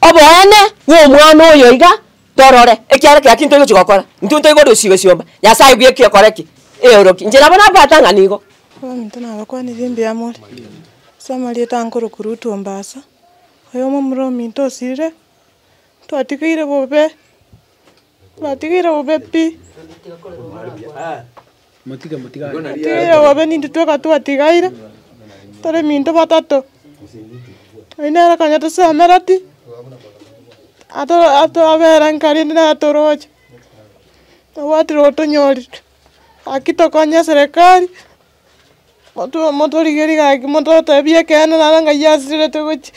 Oboene bw'omwana oyo iga torore, ekiagera kera ki ntoigochi gokora, intwe ntoigo orisiigo esiomba, Nyasae bweka ekore ki? Eoroki. Inche nabo nabwata ng'a nigo. Abaminto nabakwanirie mbuya more, ase amarieta ange korokwa Rutu Ombasa, oyomo omomura ominto osirire, twatigeire bobe. Natigire bobe pi. Natigire bobe nintwe tweka twatigaire, tore minto batato. Oyio nere konya tosemeretie, ato ato abera nkari inde nere toroche, tobwati roro tonyorire. Gaki tokonye eserekari, moto motorigerie gaki mototebie ekeene naro ng'ai asirete gochia,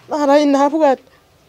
naro inabwate.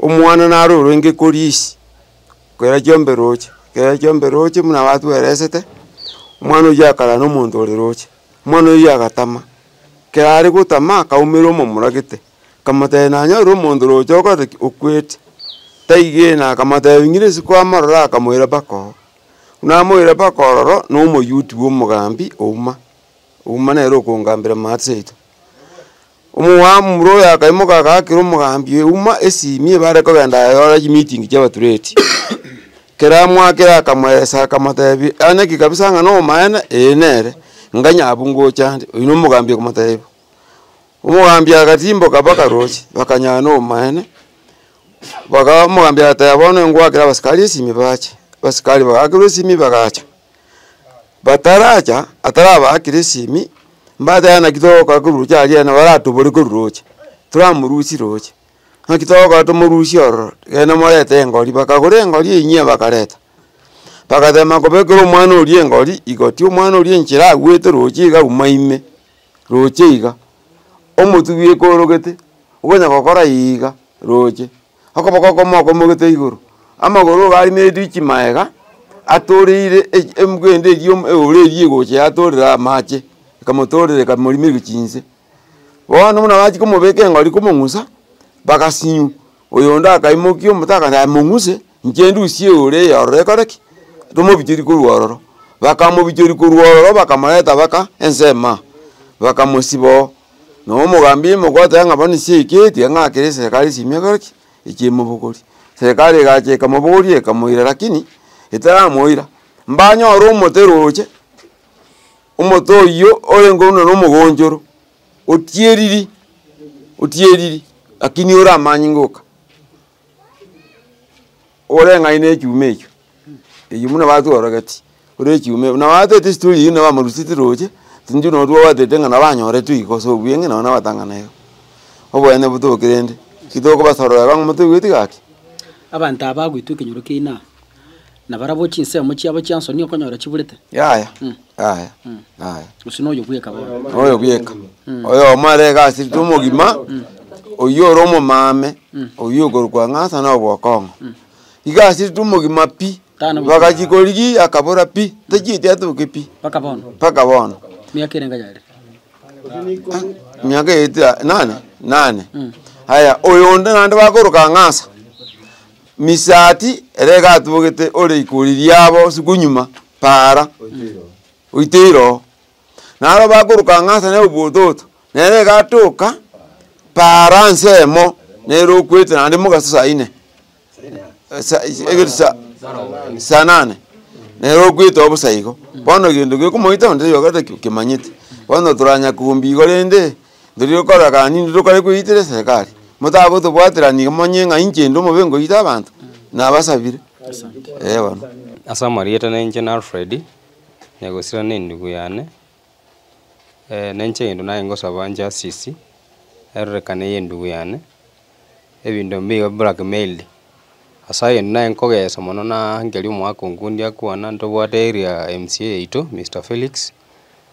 Omwana naro orenge koria isi, kera chiombe roche, kera chiombe roche buna batweresete, omwana oyio akarara na omonto ore roche, omwana oyio agatama, kera are gotama akaumera omomura gete, akamotebia nanyore omonto roche okorete ki, okwete, taigena akamotebia ng'ire ase kwamorora akamoira mpaka oo. Buna amoire mpaka ororo, na omoyuti bwa omogambi ouma, ouma nere okongambera maate seito. Omwaamura oyo akaimoka agaakera omogambi oye uma esimi ebe are kogenda ayore chimiiting chi'abatureti. Kera amwakera akamoeesa akamotebia, onye ki kabisa ng'a nomoene, ee nere, ng'a nyabu ngocha ande, oyio nomogambi okomotebia bo. Omogambi agatiimboka mpaka roche, bakanyora nomoene, bagaa omogambi agateba bono engwakere abasikari esimi bache, abasikari bagaakerwa esimi bagacha. bataracha atarabaakera esimi, mbateba naki togokora korwa roche aria yaani baratobore korwa roche, toramorusie roche. Naki togokora tomorusie ororo, genda morete engori, bakagora engori eyi nyia bakareta, bagateba makobekera omwana oria engori igoti, omwana oria enchera agwete roche iga auma ime, roche iga, omotugi okorogete, okonya gokora iiga roche. okoboko okomo okomogete igoro, amagoro iga aria ne chimaega atoreire echi emgenda eria yo eola eria egocha yatorera amache, ekamotorera ekamorimerwa chinse. Bono buna bachia komobeka eng'ori komong'usa, bagasinywa, oyonde akaimokia omote akaira aye mong'use, inche ndusie eola eye ororo ekore ki? Tomobichorie korwa ororo. Bakamobichoria korwa ororo bakamoreta baka ensemo aa, bakamosiba oo. Noo omogambi ime ogoteba ng'a bono ase eke tiga ng'a kere eserekari ase emiaka egokora ki? Echiemobogori. Serekari egacha ekamobogori ekamoira lakini etaramoira, mbanyore omote roche, omote oyio orenge buna nomogonchoro, otieriri, otieriri lakini ore amanyinga oka. ore ng'ai nechuma echio, eyio buna batworogeti, ore echuma eye buna batete estori eyio nabo amarusiti roche, intwe nabo twabatete ng'a nabo anyorete oiko ase obuya ng'a nabo nabatang'ana iga. Oboyene botoke rende, titokobasorora iga ng'a motoigweti gaki. Abanto aba bagwetwa ekenyoro kiaino aa. Na barabwo chinsemo chiabo chia nsoni okonyora chiburete. Yaya, yaya, yaya. Gose noyo bweka bono. Noyo bweka. Oyomo are egasi rita omogima, oyio ore omomame, oyio okorokwa ng'a ase na obokong'u. Iga ase rita omogima pi, Tano bobe. bagachi korigia akabora pi, tachieti atoke pi, Mpaka bono. mpaka bono. Miaka ere ngayare. Miaka eeta nane, nane. Aya, oyo onde naende bakoroka ng'a asa. Misati ere egatubogete ore iko riria abo sikunyuma para goita iroo. Naro bakoroka ng'a ase neobototo, nere egatoka para nsemo nere okwete naende mogaso saa ine sa egere sa saa nane nere okwete obosa igo. Bono egento gekomoita onde oyoka tari okemanyete. Bono toranya kombe igo rende. Ndiri rokora kaa ninde rokore koyetera eserekari. Motabe gotobwatera nigo monye ng'a inche inde omobe ngoyita abanto, nabasabire. Ee bono. Ase amarieta nainche na Alfred, negosira na endugu yane, na inche egento nare ngosaba justice erorekane ya endugu yane, ebinto mbibe blackmailed, ase egento nare nkogesa mono naa nkeria omogaka onkundi akwana ntobwate area mca yaito Mister Felix,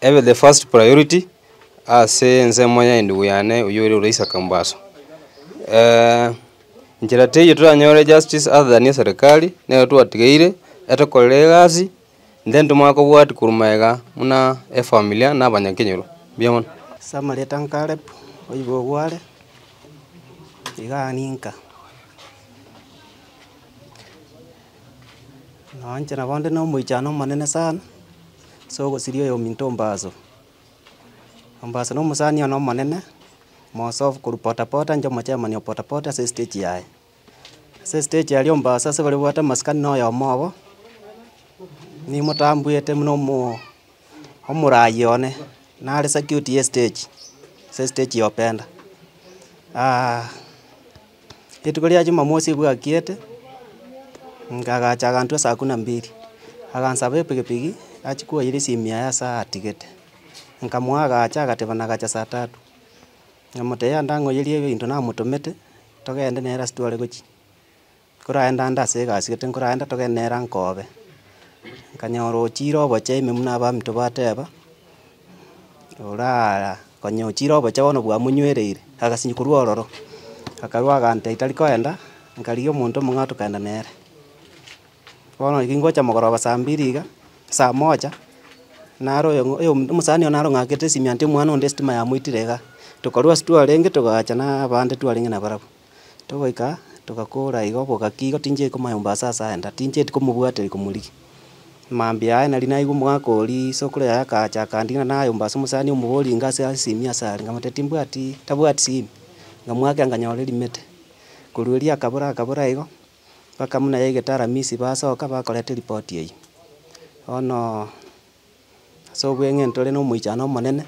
Ebe the first priority ase ensemo ya endugu yane oyio ore Uraisa Kambaso. Nchera teiyo toranyore justice other than ya serikali nero twatigeire etokorere egasi intento mare kobwati korwa magega buna efamila na abanyakenyoro. Mbuya mono. Ase amarieta Caleb oyibo ogware igaa ninka. Na inche nabo nde nomoichano omonene sana, ase ogosiria oyominto ombaso. Ombaso na omosani one omonene, mosobu korwa potapota inche omochemani o potapota ase estage yaye. Ase estage aria ombaso ase baria obwate amasikani na oyomo obo, nimotambwete buna omo omorayi one, nare circuit ye estage, ase estage ya openda. Rituko ria Jumamosi bwakiete, ngagacha aganto esaa kumi na mbili, agansaba epigipigi achie koira esimia yaye ase atigete. Nkamoa agacha agateba nagacha saa tatu, namotebia ndang'oyerie ebinto namotomete, togende nere ase tware gochia. Nkoraende ande ase egasi gete nkoraende togende nere ankobe. Nkanyora ochire obochee ime buna abamito bateba, oraa. Konya ochire obocha bono bwamoinywereire, agasinywa korwa ororo, akarua agante aitari koenda, nkarigia omonto omong'aa tokaenda nere. Bono riria ngocha mogoroba saa mbiri iga, saa moja, naro oyo ng'a oyomo omosani oyo naro ng'akete esimianto y'omwana onde esitima yamoitire igaa. Tokorwa ase twarenge togacha na abande twarenge nabarabwo. Togoika togakora igo bogaki igo tincheti komayomba ase ase aenda, tincheti komobwateria komorigia. Mambia aye nari naigwe omogaka oria, isokoro yaye akacha akandigina nayomba ase omosani omobori inga ase asimi ase are, nkamotebia timbwati tabwati simi. Nkamoakera nkanyora erimete. Korwa erio akabora akabora igo, bakamuna yaigete aramisi basoka bakoreta eripoti eyio. Bono. Ase obweng'e ntore nomoichano omonene,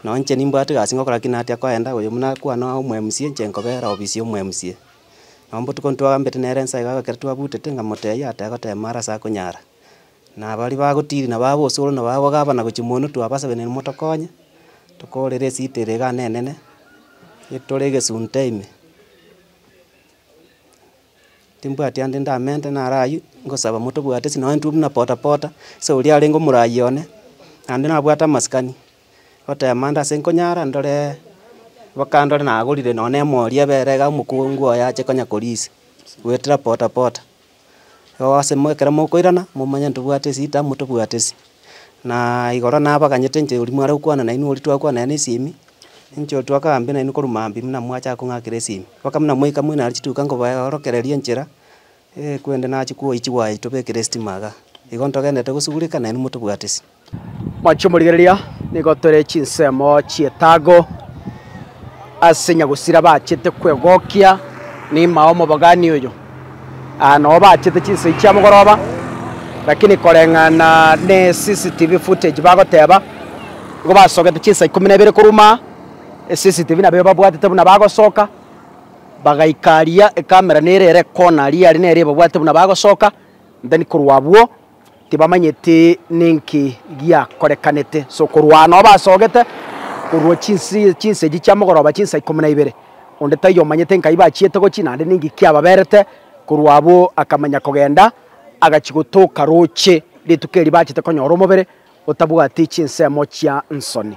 nonye inche nimbwate egasi ngokora ki natia koenda, oyo buna akwane omo mca inche nkobera ofisi omo mca. Nabo botuko ntwagambete nere nsa iga ekero twabutete nkamotebia ateba gotema are ase akonyara. Na baria bagotiri nabo aba osoro nabo aba gabana gochi monwe twabasabainene motokonye, tokorere esiti ere iga nene nene, etore egesunte ime. Timbwati ande ndamente naro ayio, ngosaba motobwate ase nonye intwe buna pota pota, ase oria arenge omoraai one, naende nabwate amasikani, goteema ande ase nkonyara ndore mpaka ndore nagorire nonye na emori ebere iga omokungu oye ache konya korisia, goetera pota pota. Igo ase mo ekero mokoirana, momanye ntobwate ase ita motobwate ase. Naaaa igoro nabaganyete inche oria mware gokwana nainwe oria twakwana naye na esimi. Inche oyo twakaba mbe nainwe korwa mambia buna mwachaka kong'akera esimi, mpaka buna mwaika moino are chituka nkobaorokereria enchera, ee, kwende nachia kwoyia chigwayi tobekere estima iga. Igo ntogenderete gosugureka, nainwe motobwatisi. Mwanche omorigereria, nigo tore chinsemo chi'etago ase nyagusira bachete kwegokia ne'ima omobogani oyo. Aa nao bachete chinsoi chia mogoroba lakini koreng'ana ne CCTV footage bagoteba nigo basogete chinsa ikomi na ibere korwa aa eCCTV nabo ebabwatete buna bagosoka bagaika aria ecamera nere ere corner aria aria nere ebabwatete buna bagosoka then korwa abwo. Tibamanyeti ninki giakorekanete, sokorwana obo asogete korwa chinseji chia mogoroba chinsa ikomi na ibere, onde taiyo omanyete nkai bachiete gochia naende ninki kiababerete, korwa abwo akamanya kogenda, agachia gotoka roche rituko eri bachete konyora omobere otabwati chinsemo chia nsoni.